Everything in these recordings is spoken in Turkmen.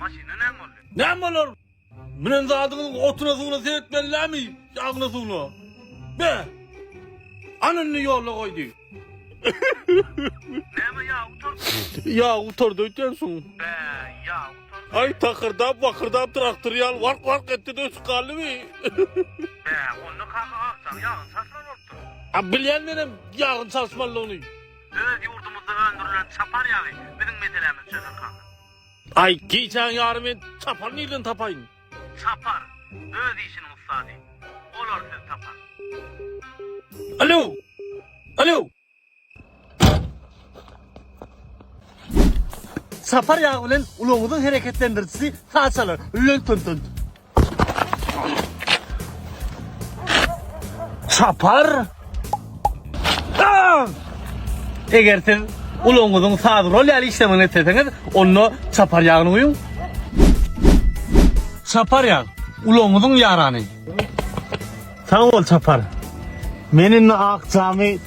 Maşyna näme boldy? Näme bolar? Münen zadyňyz otuna suwuna seretmelilämi? Ýagyna suwuna. Be! Ana indi ýola goýdy. Näme ýa utardy? Ýa utardy öýtýänsiň. Be, ýa utardy. Aý takyrdap bakyrdap traktor ýaly wark wark etdi de ötüp galdymy? Be, onda kaka akjam ýagyny çalşylan bolupdyr. A bilýän menem ýagyny çalşmalydygyny. Öz ýurdumyzda öndürilen çapar ýagy biziň meselämizi çözer kaka. Aý, gijäň ýary men çapary nirden tapaýyn? Çapar, öz işiniň ussady. Bolar siz tapan. Alo! Alo! Çapar ýagy bilen ulagyňyzyň hereketlendirijisi saç alar. Lönt-tönt-tönt. Çapar. Ah! Eger siz uluňyzyň saz rol ýaly işlemegini etseňiz, onda çapar ýagyny guýuň. Çapar ýag, uluňyzyň ýarany. Sag bol çapar. Men indi ak jamy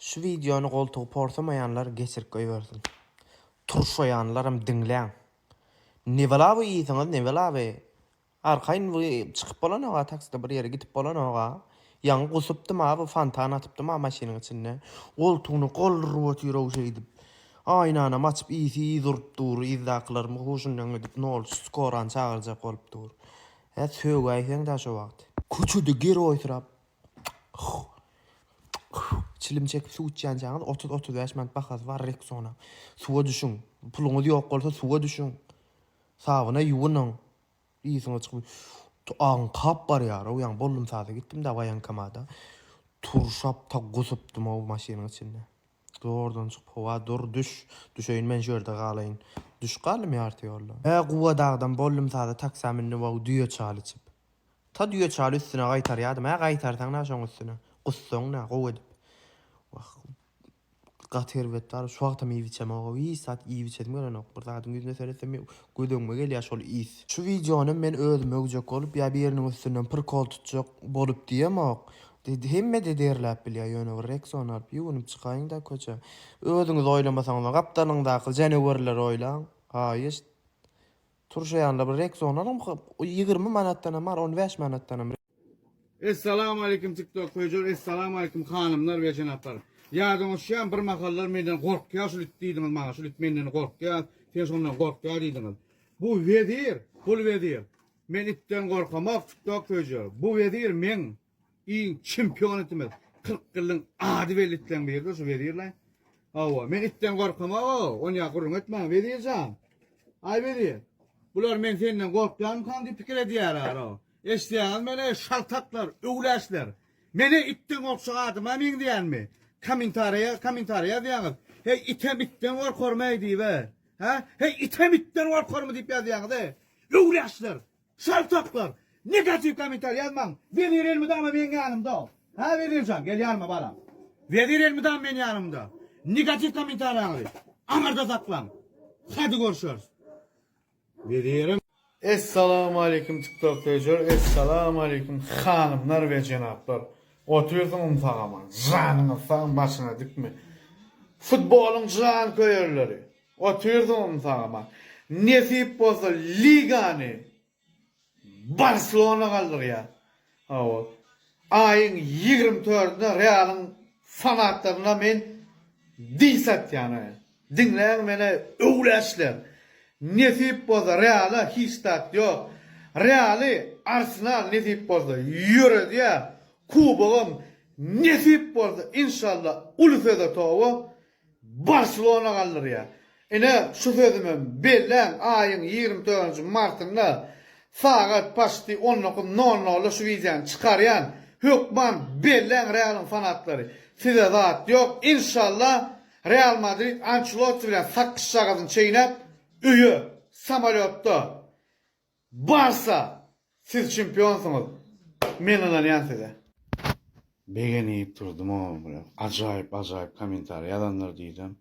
Şu wideony goltugy porsamaýanlar geçirip goýbersin. Turşaýanlaram diňläň. Nebala bu ýysyňyz nebala by. Arkaýyn bu çykyp bolanok-a takside bir ýere gidip bolanok-a. Ýaňy gusupdym-a bu fontan atypdym-a maşynyň içinde. Goltugyny galdyryp otyr-ow şeýdip. Aýnanam açyp ýyysy ýyz urup dur. Ýyzdakylaryň huşundan gidip nol skorany çagyrjak bolup dur. Hä sögäýseň-dä şo wagt. Köçede geroýsyrap Çilim çekip suw içýänçäňiz otuz-otuz bäş manat bahasy bar Rexona. Suwa düşüň. Puluňyz ýok bolsa suwa düşüň. Sabyna ýuwunyň. Ysyňyz çykyp. Tu aňkap barýar-ow, ýaňy bollumsada gitdim-de waýenkomada. Turşap ta gusupdym-ow maşynyň içinde. Zordan çykyp, Howa dur, düş. Düşeýin men şu ýerde galaýyn. Düşüp galdym ýarty ýolda. Hä, Gubadag-dam bollumsada taksa mündim-ow düýe çaly içip. Ta düýe çaly üstüne gaýtarýadym-ä, gaýtarsaň-da şoň üstüne, gussaň-da, gowy edip. Wah, gaty erbet bar, şu wagtam iýip içemog-ow, hiç zat iýip içesim gelenok, bir zadyň ýüzüne seretsem gödegime gelýär şol ys. Şu wideonym men özüm öwjek bolup ýa biriniň üstünden prikol tutjak bolup diýemok, hemme-de derläp bilýär, ýöne bir Rexona alyp ýuwunyp çykaýyň-da köçä. Özüňiz oýlamasaňyzam, gapdalyňdaky janawerleri oýlaň, haýyşt. Turşaýanda bir Rexonalam ýigrimi manatdanam bar on bäş manatdanam. Essalamualeýkum tiktok höjür Essalamualeýkum hanymlar we jenaplar Ýadyňyz düşýämi bir mahallar menden gorkýa şul it diýdiňiz maňa şul it menden gorkýa sen şondan gorkýa diýdiňiz bu wezir bul wezir men itden gorkamok tiktok höjür bu wezir meň Iň çempion itimiz. Kyrk ýylyň ady belli itleň birdir şu Wezirlaý. Hawa, men itden gorkamag-a, onýa gürrüň etmäň, Wezir jan. Aý Wezir, bular men senden gorkýarmykam diýip pikir edýärler-a. Eşidýäňiz meni, eý şaltaklar, öwlärçiler. Men-ä itden gorkjak adama meňzeýänmi? Kommentariýa, kommentariýa ýazýaňyz, Heý, item itden gorkarmy-eý diýip-ä. Hä? Heý, item itden gorkarmy diýip ýazýaňyz-eý. Öwlärçiler! Şalt tapyplar. Negatiw kommentariý ýazmaň. Wezir elmydama meň ýanymda. Hä Wezirjan gel ýanyma balam. Wezir elmydama meň ýanymda. Negatiw kommentariýaňyzy aňarda saklaň. Hadi görüşeris. Wezirim. Essalamualeýkum tiktok toýjar Essalamualeýkum hanymlar we jenaplar Otyrsyň umsagama janyňyz sag başyna dikme Futbolyň janköýerleri Otyrdym sagama. Nesip bolsa Ligany Barselona galdyrýar. Hawa. Aýyň ýigrimi töründe Realyň fanatlaryna men diss atýan. Diňläň meni öwlärçiler. Nesip bolsa Reala hiç zat ýok. Realy Arsenal nesip bolsa ýöredýär. Kubogam nesip bolsa inşallah uly söze toba Barselona galdyrýar. Ine, şu sözümem belläň, aýyň ýigrimi dördünji martynda sagat paçti on dokuz nol nolda şu wideony çykarýan. Hökman belläň Realyň fanatlary. Size zat ýok. Inşallah, Real Madrid Ançelotti bilen sakgyçjagazyny çeýnäp, öýe, samolýotda, Barsa siz çempionsyňyz men ynanýan size. Begenip durdum o bile ajaýyp ajaýyp komentariý ýazanlar diýsem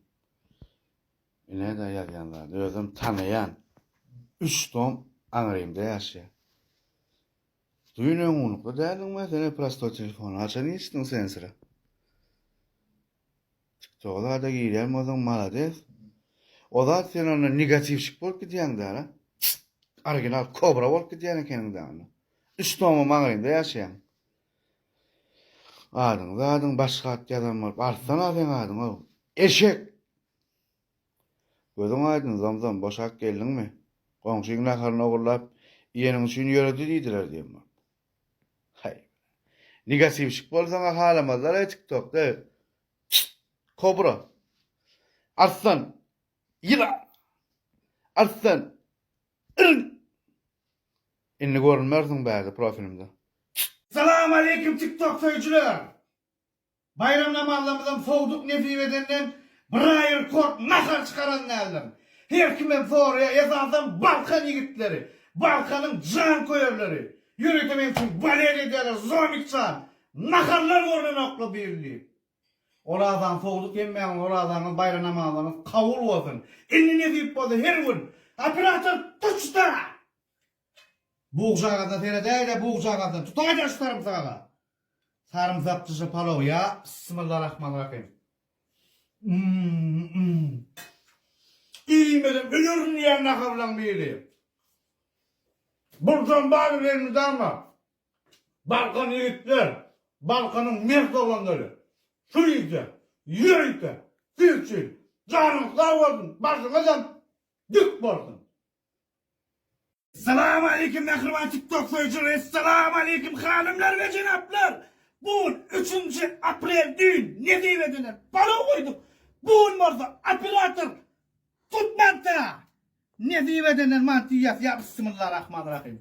e nädä ýazýan zady özüm tanaýan üç tom aňrymda ýaşaýan düýn öňňunlukda däldiňmi sen e prostoý telefony haçan geçdiň sen sira. Tiktoka zada girýän bolsaň malades. O zat sen onda negatiwşik bolup gidýäň däl-ä. Original kobra bolup gidýän ekeniň dä onda. Üç tommy maňlaýynda ýaşaýaň. Adyňy zadyň başga at ýazan bolup artsan-a seň adyň-ow. Eşek! Gözüň aýdyn zomzom boşap geldiňmi? Goňşyň naharyny ogurlap iýeniň üçin ýöredi diýdiler diýen bolup. Haý. Nigasivşik bol saňa halamazlar eý tik tok da. Çşşt. Kobra. Arslan. Ýylan. Arslan. Yrn. Indi görünmersiň bärde profilimde. Çşşt. Salam aleýkum tik tok söýüjiler. Baýram namazlarymyzam sowduk nesip edenden biraýy rekord nahar çykaran däldir. Her kimem soraýar, esasan Balkan ýigitleri, Balkanyň janköýerleri. Ýörite meň üçin balet edýärler, Zomik jan, naharlar görnenokla bir diýip. Orazany sowduk hemmäňiz orazaňyz baýram namazlaryňyz kabul bolsun. Indi nesip bolsa her gün. Operator tuç-da! Bugjagazyna seredäýdä bugjagazyna tutaýda şu sarymsagaza sarymsak dyşy palaw ýa Bismillarahmanrahym Umm umm Iýmedim ölerin diýýän nahablaň biri Burdan baryp elmydama Balkan ýigitler Balkanyň mert oglanlary şu ýerde ýörite siz üçin janyňyz sag bolsun başyňyzam dik bolsun Salam aleýkum mähriban tiktok söýüjileri Salam aleýkum hanymlar we jenaplar Bu gün üçünji aprel düýn nesibedeler balo goýduk bu gün bolsa operator tutmapdyr a nesibedeler mantyýas ýa bsmylla rahman rahym.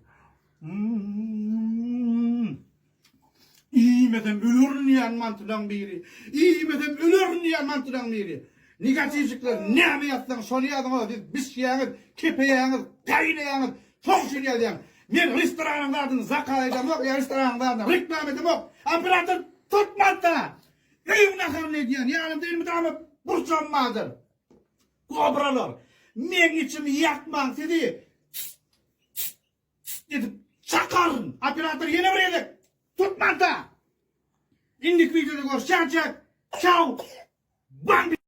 Iýmesem ölerin diýýän mantylaň biri. Iýmesem ölerin diýýän mantylaň biri. Negatiwjikler näme ýazsaň şony ýazyň o siz bişýäňiz, kepeýäňiz, gaýnaýaňyz, şoň üçin ýazýan. Men restoranyň zadyny zakaz edemok ýa restoranyň zadyna reklama edemok. Operator tutmasa. Öýüň naharyny edýän ýanymda elmydama burçam bardyr. Kobralar. Meň içimi ýakmaň sizi. Çyt edip çakaryn. Operator ýene bir gezek. Tutmanta. Indiki wideoda görüşýänçäk. Çau. Bambi.